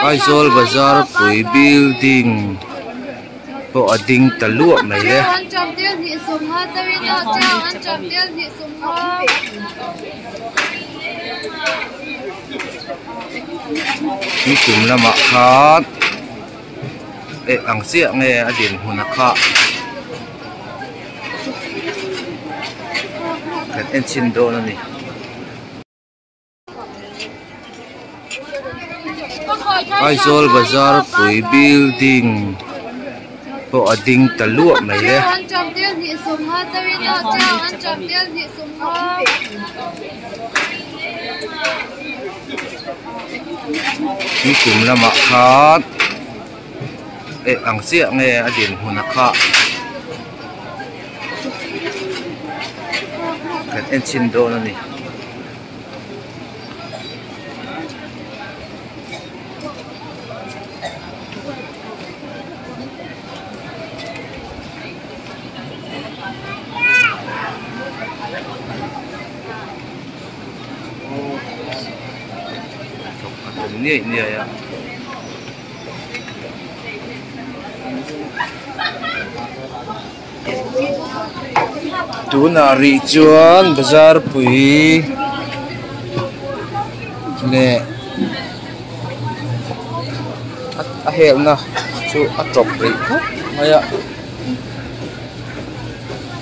Aizawl bazar pui building pawh a ding ta luah mai e. Tui tum lamah khan-- Eh ang chiah nge a din hmun a khah. Kan en chhin dawn a ni. Aizawl bazar pui building pawh a ding ta luah mai e. Chu kum lamah khan eh ang chiah nge a din hmuna kha kan enchin dawn a ni. a tum niaih niaih a. Tunah rih chuan bazar pui leh a helna chu a tawp rih khawp mai a.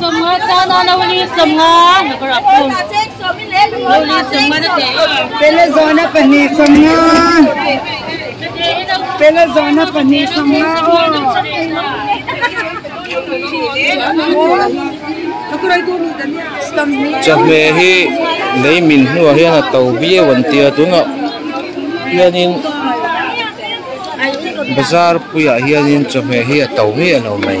Sawmnga tan a Noli sawmnga Number a pum Noli sawmnga na teh a Pele zawhna pahnih sawmnga Pele zawhna pahnih sawmnga aw Chawhmeh hi lei min hnuah hian a to viau an tia tunah hianin bazar puiah hianin chawhmeh hi a to viau mai.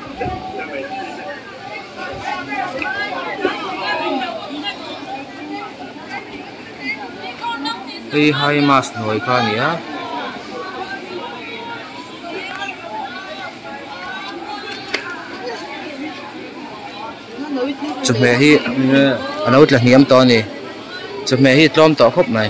hei hi mas hnuai kha a ni a. chawhmeh hi a lo tla hniam tawh a ni chawhmeh hi tlawm tawh khawp mai.